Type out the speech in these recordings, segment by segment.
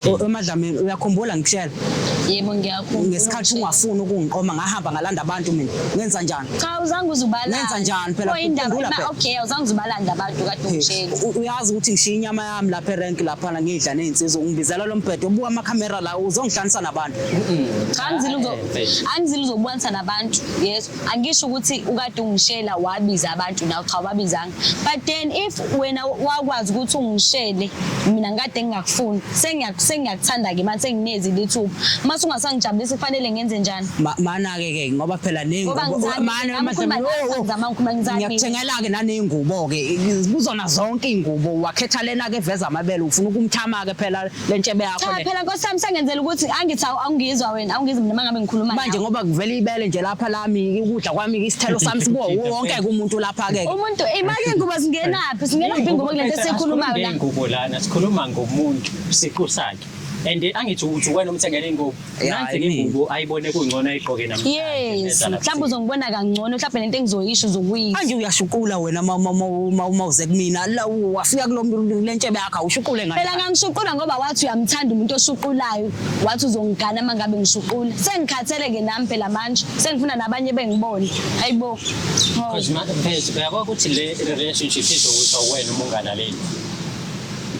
emadlamini uyakhumbula ngikushela yebo ngiyakhumbula ngesikhathi ungafuni ukungiqoma ngahamba ngalanda abantu mina ngenza njani cha uzange uzubalanda ngenza njani phela khumbula phela okay uzange uzubalanda abantu kade ungishela uyazi ukuthi ngishiya inyama yami lapha erank lapha ngidla nezinsizwa ungibizela lo mbhedo ubuka ama camera la uzongihlanisa nabantu cha angizile uzo angizile uzobukanisa nabantu yes angisho ukuthi ukade ungishela wabiza abantu nawe cha wabizanga but then if wena wakwazi ukuthi ungishele mina ngikade ngingakufuni sengiyakuthanda ke manje senginezi lithuba mase ungasangijabulisi kufanele ngenze njani mana ke ke ngoba phela neyingubomangiyakuthengela ke naneyingubo ke kuzona zonke iyingubo wakhetha lena ke veza amabele ufuna ukumthama ke phela le ntshebe yakho cha le phela nkosi yami sengenzela ukuthi angithi awu- awungizwa wena awungizwa mina mangabe ngikhuluma manje nawe. ngoba kuvela ibele nje lapha lami ukudla kwami isithelo sami sibo wonke ke umuntu lapha ke umuntu imake ingubo zingenaphi zingenaphi ingubo kulento esikhulumayo la Ingubo lana sikhuluma ngomuntu siqu sakhe and angithi ukuthi wena umthengele ingubo Nansi ingubo ayibone kungcono ayigqoke namhlanje. Yes, mhlawumbe uzongibona kangcono, mhlawumbe nento engizoyisho uzokuyisho. Manje uyashuqula wena uma uma uma uma uze kumina la wafika kulomntu lentshebe yakho awushuqule ngani? Phela ngangishuqula ngoba wathi uyamthanda umuntu oshuqulayo, wathi uzongigana uma ngabe ngishuqula. Sengikhathele ke nami phela manje, sengifuna nabanye bengibone. Hayibo. Cause manje phela uyabona ukuthi le relationship izokusa wena uma ungalaleli.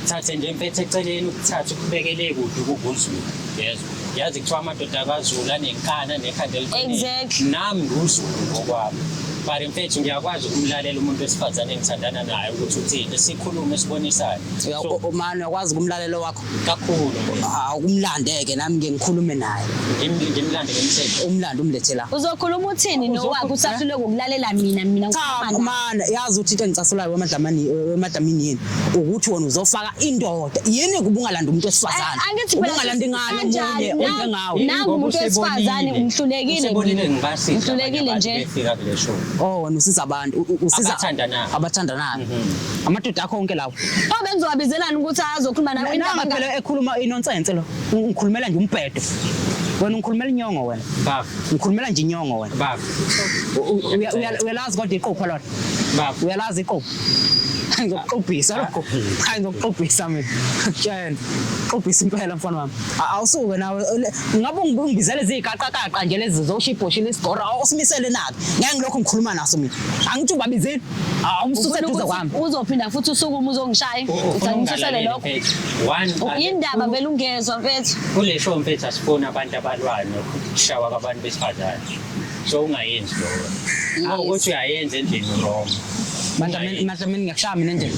thathe nje mpethe eceleni ukuthatha ukubekele kude ukukuzulu yezwa yazi kuthiwa amadoda akazulu anenkani anekhanda eliqinile nami nguzulu ngokwami but mfethu ngiyakwazi ukumlalela umuntu wesifazane engithandana naye ukuthi uthini sikhulume sibonisane umane uyakwazi ukumlalela wakho kakhulu awukumlandeke ah, nami ngikhulume naye ngimlande ngimsele umlande umlethela uzokhuluma uthini nowakho usahlule ngokulalela mina mina And yazi uthi into engicasulayo wemadlamani wemadlamini yini ukuthi wona uzofaka indoda yini kubungalanda umuntu esifazane ubungalanda ingane omunye onjengawe nangu umuntu esifazane umhlulekile umhlulekile nje oh wena usiza abantu usiza abathandanayo mhm. amadoda akho onke lawo oh bengizowabizelani ukuthi azokhuluma nawe into phela ekhuluma inonsense lo ngikhulumela nje umbhedo wena ungikhulumela inyongo wena baba ngikhulumela nje inyongo wena baba uyalazi kodwa iqupho lona uyalazi iqupho ngizokuxubhisa lokho hayi ngizokuxubhisa mina tshena xubhisa impela mfana wami awusuke nawe ngabe ungibizele izigaqaqaqa nje lezi zosho ibhoshile isigora awusimisele nake ngeke ngilokhu ngikhuluma naso mina angithi ubabizile awumsuse eduze kwami uzophinda futhi usuke uma uzongishaya usangisusele lokho yindaba vele ungezwa mfethu kule show mfethu asifuni abantu abalwayo nokushawa kwabantu besifazane so ungayenzi loyo Ngingayis- ukuthi uyayenza endlini wrong Madlamini, madlamini ngiyakushaya mina endlini.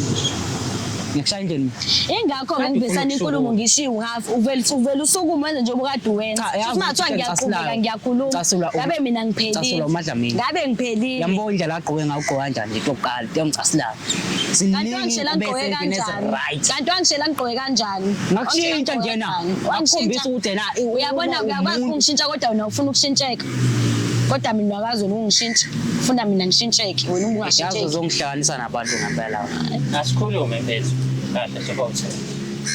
Ngiyakushaya endlini. mina. ingakho Kade ngangibhisana ufuna inkulumo ukusukuma. ngishiwo ngafi uvele uvele usukuma wenze njengoba kade uwenza Cha, yazi singathiwa ukuthi ngiyaqhubeka ngicasulayo. ngiyakhuluma Ngicasula u- ngabe mina ngicasula ngiphelile uMadlamini. ngabe ngiphelile Yambona indlela agqoke ngayo ugqoka kanjani nje kokuqala, yamcasilayo. Kanti wangishela ngigqoke kanjani? Kanti wangishela ngigqoke kanjani? Ngakushintsha njena. Ngakukhombisa ukuthi yena uyabona uyakwazi ukungishintsha kodwa wena ufuna ukushintsheka. Kodwa mina akazi ukungishintsha. Ufuna mina ngishintsheke wena ungashintsheki. Yazi uzongihlanganisa nabantu ngempela. Asikhulume mfethu. Kahle sobothe.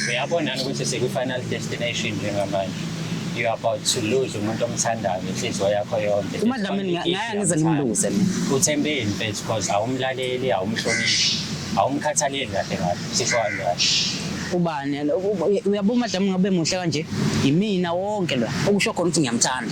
Uyabona ukuthi siku final destination njengamanje. you are about to lose umuntu omthandayo inhliziyo yakho yonke umadlamini ngaya ngize ngimlungise mina uthembeni mfethu because awumlaleli awumhloniphi awumkhathaleli kahle kahle sisho kanjalo ubani uyabo madam ngabe muhle kanje yimina wonke lo okusho khona ukuthi ngiyamthanda